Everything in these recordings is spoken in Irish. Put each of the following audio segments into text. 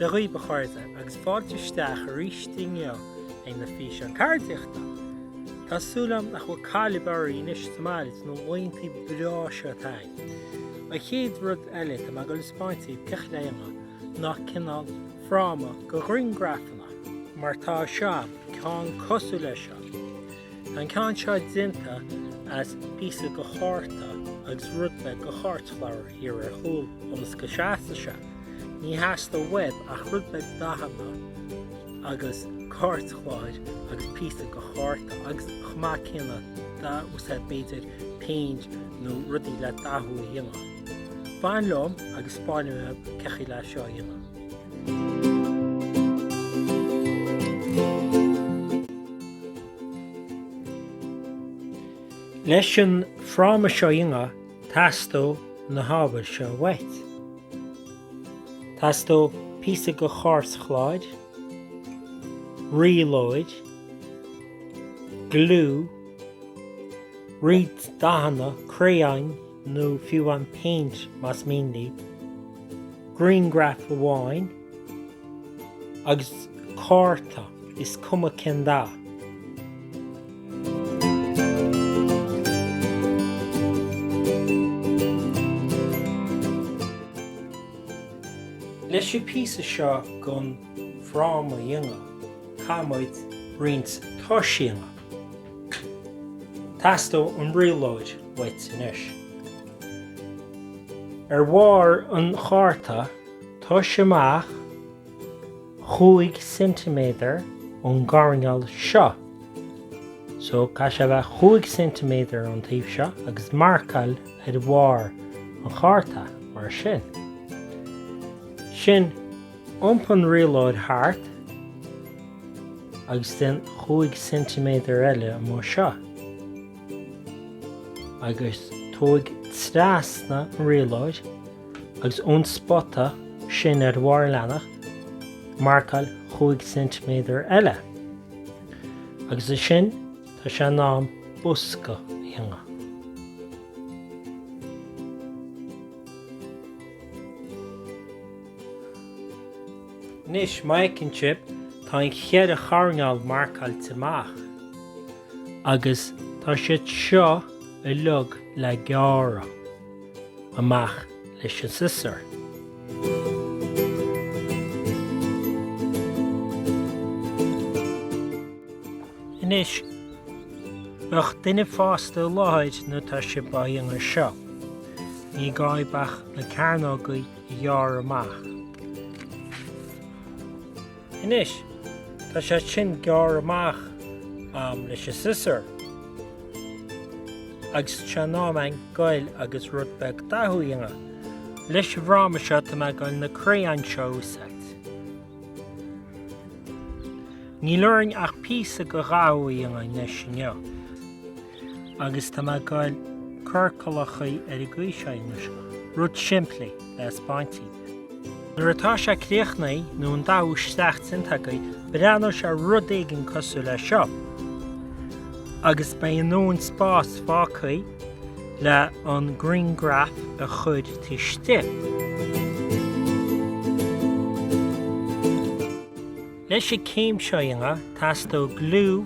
Dia dhaoibh a chairde agus fáilte isteach arís inniu ag na físeáin ceardaíochta. Tá súil agam nach bhfuil caill ar bith oraibh anois sa mbaile na laethanta breá seo atá againn. An chéad rud eile, tá mé ag goil a spáint daoibh cén chaoi le déanamh. ná cineál fráma do ghriangrafanna mar atá seo, ceann cosúil leis seo. Tá an ceann seo déanta as píosa de chárta agus rud beag de chairtchlár thiar ar chúl ionas go seasfaidh sé. Ní theastaíonn uaibh ach rud beag dathanna agus cairtchláir agus píosa de chárta agus chomh maith céanna d'úsáid b'fhéidir péint nó rudaí le dathú a dhéanamh. Fan liom agus spáinfidh mé cén chaoi le seo a dhéanamh. Leis an fráma seo a dhéanamh, teastóidh na hábhair seo uait. Teastóidh píosa de chairtchláir, rialóir, gliú, roinnt dathanna, criáin, nó fiú an péint más mian leat, grianghraf amháin agus cárta, is cuma cén dath. Leis an bpíosa seo den fráma a dhéanamh, caithfidh muid roinnt toiseanna. Teastóidh an rialóir uait anois. Ar bharr an chárta, tomhais amach chúig ceintiméadar ón gcoirneál seo. So, caithfidh sé a bheith chúig ceintiméadar ón taobh seo agus marcáil ar bharr an chárta, mar sin. Ansin, iompaigh an rialóir thart. agus déan chúig ceintiméadar eile mar seo, agus tóig trasna an rialóir agus ón spota sin ar bharr an leathanaigh marcáil chúig ceintiméadar eile, agus ansin tá sé in am bosca a dhéanamh. Anois, má fheiceann sibh, tá an cheithre choirnéal marcáilte amach, agus tá siad seo uilig le gearradh amach leis an siosúr. Anois, bíodh duine fásta i láthair nuair atá sibh á dhéanamh seo. Ní gá dhaoibh ach na cearnógaí. a ghearradh amach. Anois, tá sé sin gearrtha amach a'm leis an siosúr, agus tá sé in am a'inn a ghoil agus rud beag dathú a dhéanamh. Leis an bhfráma seo, tá mé ag goil na crayons seo a úsáid. Níl orainn ach píosa go dhathú a dhéanamh anois inniu. agus tá mé ag goil ag cur ciorcalachaí ar an gcaoi seo anois, rud simplí le spáint daoibh. Nuair atá sé críochnaithe nó an dathú isteach déanta agaí, breathnóidh sé rud éigin cosúil le seo, agus beidh a ndóthain spás fágthaí le an griangraf a chur isteach. Leis an céim seo a dhéanamh, teastóidh gliú,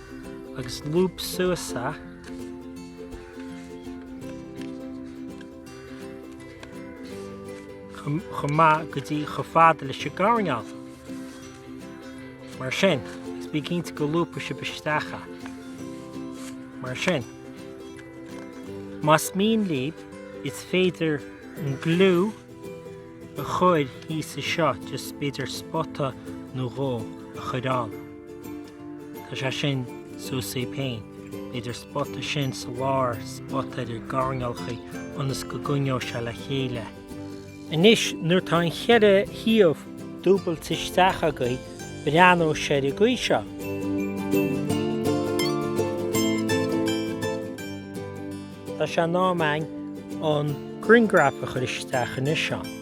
agus lúb suas é chomh maith go dtí chomh fada leis an gcoirnéal. Mar sin, is bí cinnte go lúbfaidh sibh isteach é. Mar sin. Más mian libh, is féidir an gliú a chur thíos anseo, just b'fhéidir spota nó dhó a chur ann. Tá sé sin suas agaibh féin, b'fhéidir spota sin sa lár, spota ar na coirnéalachaí ionas go gcoinneoidh sé le chéile. Anois nuair tá an cheithre thaobh dúbailte isteach agaí, breathnóidh sé ar an gcaoi seo. Tá sé in am againn an grianghraf a chur isteach anseo ann.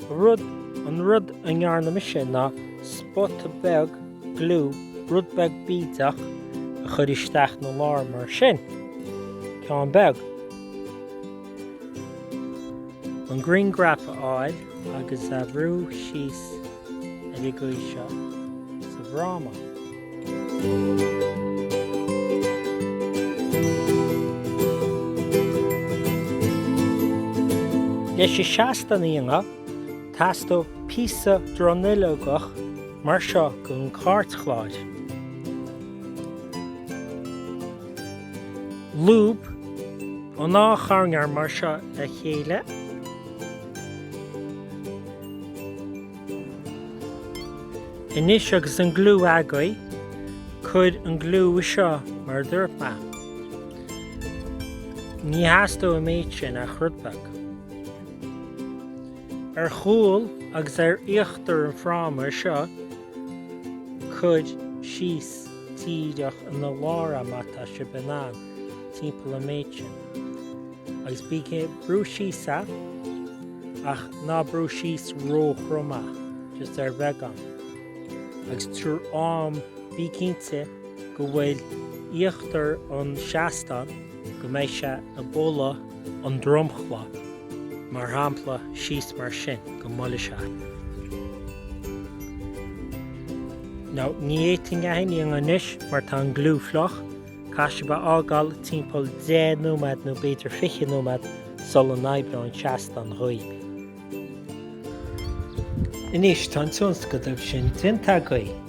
Rud, an rud a ndéanaimse ná spota beag gliú, rud beag bídeach, a chur isteach ina lár mar sin. Ceann beag. An grianghraf a fháil agus a bhrú síos. ar an gcaoi seo sa bhfráma. Leis an seastán a dhéanamh, teastóidh píosa dronuilleogach mar seo de chairtchlár. Lúb an dá choirnéal mar seo le chéile. Anois agus an gliú agaibh, cuir an gliú seo mar a dúirt mé. Ní theastóidh méid sin ach rud beag. Ar chúl agus ar íochtar an fráma seo, cuir síos díreach ina lár an méid atá sibh in ann. timpeall an méid sin. Agus bígí ag brú síos air, ach ná brú síos ró-throm air, just ar bheagán. Agus tríd an am bí cinnte go bhfuil íochtar an seastán, go mbeidh sé ag bualadh an dromchla, mar shampla síos mar sin, go mbuailfidh sé. Now, ní féidir liom a dhéanamh anois mar tá an gliú fliuch. Caithfidh sibh é a fhágáil timpeall 10 nóiméad nó b'fhéidir 20 nóiméad sula n-oibreoidh seastán daoibh. Anois tá an tionscadal sin déanta againn.